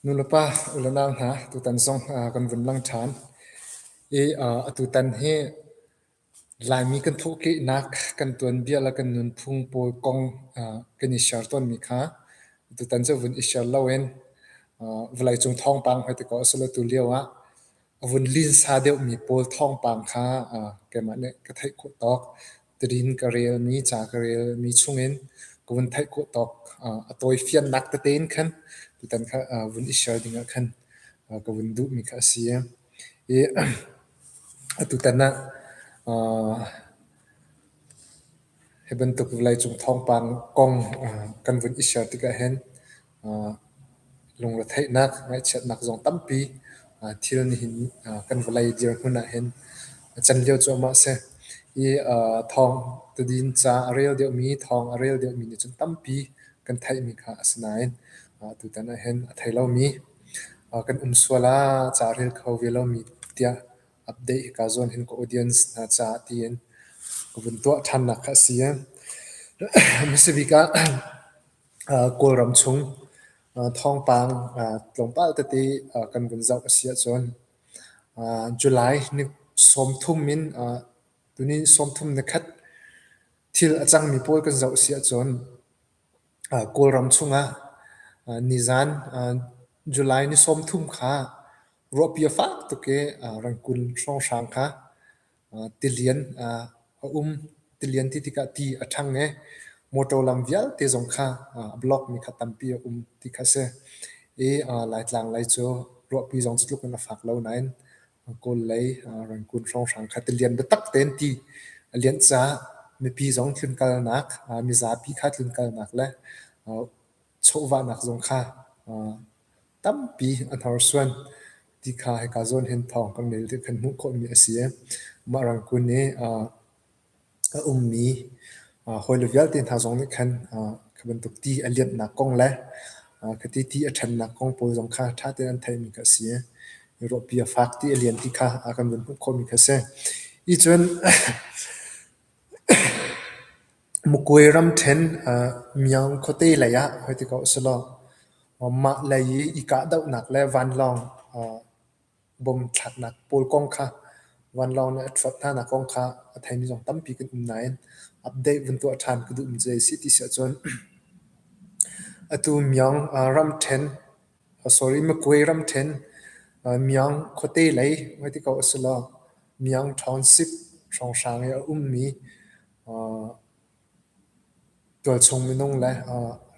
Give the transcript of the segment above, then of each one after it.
Nulepa unau hna tutan zong kan vun lang ṭhan i atutan hi Laimi kan thawhkehnak, kan tuanbia le kan nunphung pawl kong kan i share tawnmi kha atutan cu a vun i share loin vawleicung thawngpang hmete kaw a si lo tulio ah a vun linsa deuhmi pawl thawngpang kha keimah nih ka theih khawh tawk. tidin ka relmi, ca ka relmi chungin ka vun theih khawh tawk a tawifiannak tete in khan tutan kha vun i share dingah khan ka vun duhmi kha a si. I atutan ah hi bantuk vawleicung thawngpang kong kan vun i share tikah hin Lungretheihnak, ngaihchiatnak zong tampi thil nihin kan vawlei dirhmun ahhin a can lio cuahmah a si. Hi thawng tadin ca a rel deuhmi, thawng a rel deuhmi nih cun tampi kan theihmi kha a si nain tutan ahhin a thei lomi, kan um sual ah ca rel kho ve lomi tiah update kaa zuam hin ka audience hna caah tiin ka vun tuah ṭhannak kha a si. A hmasa bik ah Kawlram chung thawngpang tlawmpal tete kan vun zoh a si ahcun July ni sawmthum in tuni sawmthum ni khat thil a cangmi pawl kan zoh a si ahcun Kawlram chungah nizan July ni sawmthum kha ruahpi a fak tuk i Rangkun hrawnghrang kha tilian a um. Tilian ti tikah ti a ṭhang i motor lam vialte zong kha a block mi kha tampi a um ti kha a si. I Laitlang lei cu ruahpi zong cu tluk in a fak lo nain Kawl lei Rangoon hrawnghrang kha tilian biatak tein ti a lianh caah mipi zong tlunkalnak, mizapi kha tlunkalnak le chawhvahnak zong kha tampi a hnorsuan ti kha hika zawn hin thawng kan rel ti kan hmuh khawhmi a si i mah rangkun i a ummi hawile vialte hna zong nih khan khi bantuk ti a lianhnak kong le khiti ti a ṭhannak kong pawl zong kha ṭha tein an theihmi kha a si i ruahpi a fak ti a lian ti kha a kan vun hmuh khawhmi kha a si. Ih cun Mukuai ramṭhen Myaung khuate lei ah hoi ti ko a si law mah lei i i kahdohnak le vanlawng bom thlaknak pawl kong kha vanlawng nih a ṭhuat hnanak kong kha a theimi zong tampi kan um nain update vun tuah ṭhan ka duhmi cu a si ti si ahcun atu Myaung ramṭhen sorry Mukuai ramṭhen Myaung khuate lei hoi ti ko a si law Myaung Township hrawnghrang i a ummi Tualchung minung le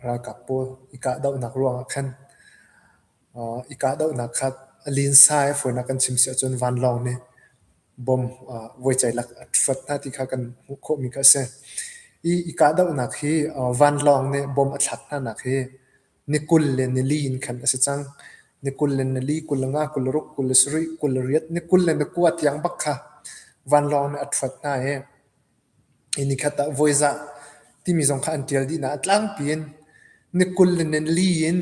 ralkap pawl i kahdohnak ruangah khan i kahdohnak kha a linsa i a fawinak kan chim si ahcun vanlawng nih bom voiceilak a hrot hna ti kha kan hmuh khawhmi kha a si. I kahdohnak hi vanlawng nih bom a thlak hnanak hi Ni kul le nili in khan a si cang. Ni kul le nili, kul nga, kul ruk, kul sarih, kul riat, ni kul le ni kua tiang bak kha vanlawng nih a ṭhuat hna i hi ni khat ah voizah timi zong kha an ṭial dih hna. A tlangpi in ni kul le nili in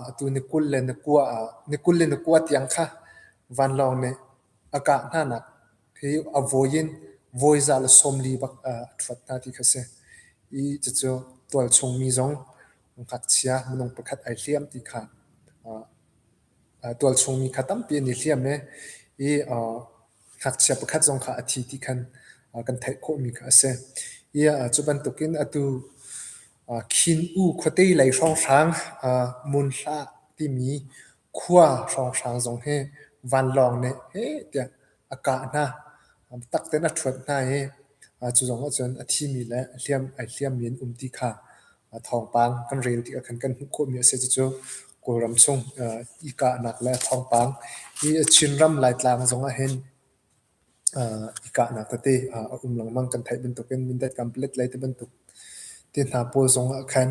atu ni kul le ni kua ah ni kul le ni kua tiang kha vanlawng nih a kah hnanak hi a voi in voizah le sawmli bak a ṭhuat hna ti kha a si i cucu tualchung mi zong ngakchia minung pakhat ai hliam ti kha tualchungmi kha tampi an i hliam i i ngakchia pakhat zong kha a thi ti khan kan theih khawhmi kha a si. Ia cu bantukin atu khin u khuate lei hrawnghrang mun hlah timi Khua hrawnghrang zong hi vanlawng nih heh tiah a kah hna. Biatak tein a ṭhuat hna i cu zong ahcun a thimi le a hliam ai hliammi an um ti kha thawngpang kan rel tikah khan kan hmuh khawhmi a si. Cucu Kawlram chung i kahnak le thawngpang hi Chinram Laitlang zong ahhin i kahnak tete a um lengmang. Kan theih bantukin Mindat Complex lei te bantuk ti hna pawl zongah khan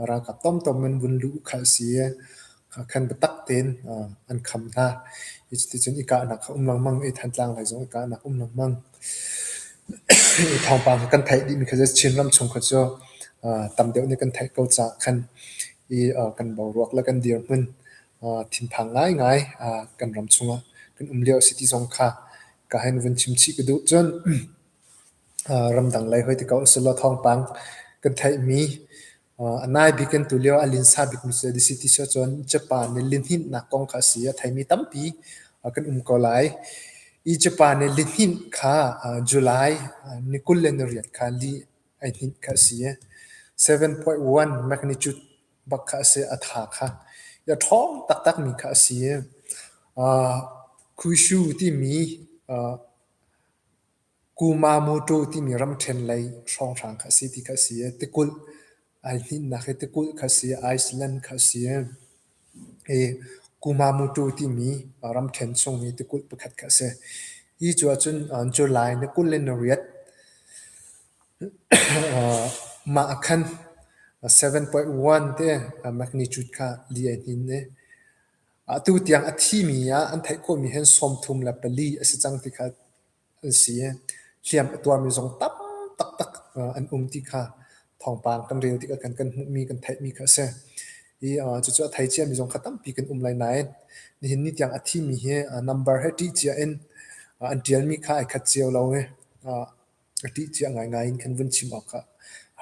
ralkap tomtom in vun luh kha a si i khan biatak tein an kham hna. Hi chiti cun i kahnak a um lengmang i Thantlang lei zong i kahnak a um lengmang. Hi thawngpang kha kan theih dih mi kha cu Chinram chung kha cu tam deuh nih kan theih ko caah khan i kan boruak le kan dirhmun thinphang ngaingai kan ram chungah kan um lio a si ti zong kha ka hen vun chim chih ka duh. Cun ramdang lei hoi tikau a si law thawngpang kan theihmi a nai bik in tu lio a linsa bikmi cu a si ti si ahcun Japan nih lihninhnak kong kha a si a theimi tampi kan um ko lai. Hi Japan nih lihninh kha July ni kul le ni riat kha li ai hninh kha a si. 7.1 magnitude bak kha a si, a tha kha. I a ṭhawng taktakmi kha a si. Uh, Kushu timi uh, Kumamoto timi ramṭhen lei hrawnghrang kha a si ti kha a si. Tikulh ai hninnak hi tikulh kha a si, Iceland kha a si. I Kumamoto timi uh, ramṭhen chung hi tikulh pakhat kha a si. Hi cu ahcun uh, July ni kul le ni riat Mah a khan seven point one te magnitude kha li ai hnin i atu tiang a thimi ah an theih khawhmi hin sawmthum le pali a si cang ti kha an si i hliam a tuarmi zong tam taktak an um ti kha thawngpang kan rel tikah kan hmuhmi kan theihmi kha a si. i uh, cucu a thei cia mi zong kha tampi kan um lai nain nihin ni tiang a thi mi hi uh, number he ṭih cia in uh, an ṭial mi kha ai khat cio lo i uh, ṭih cia ngaingai in kan vun chim awk kha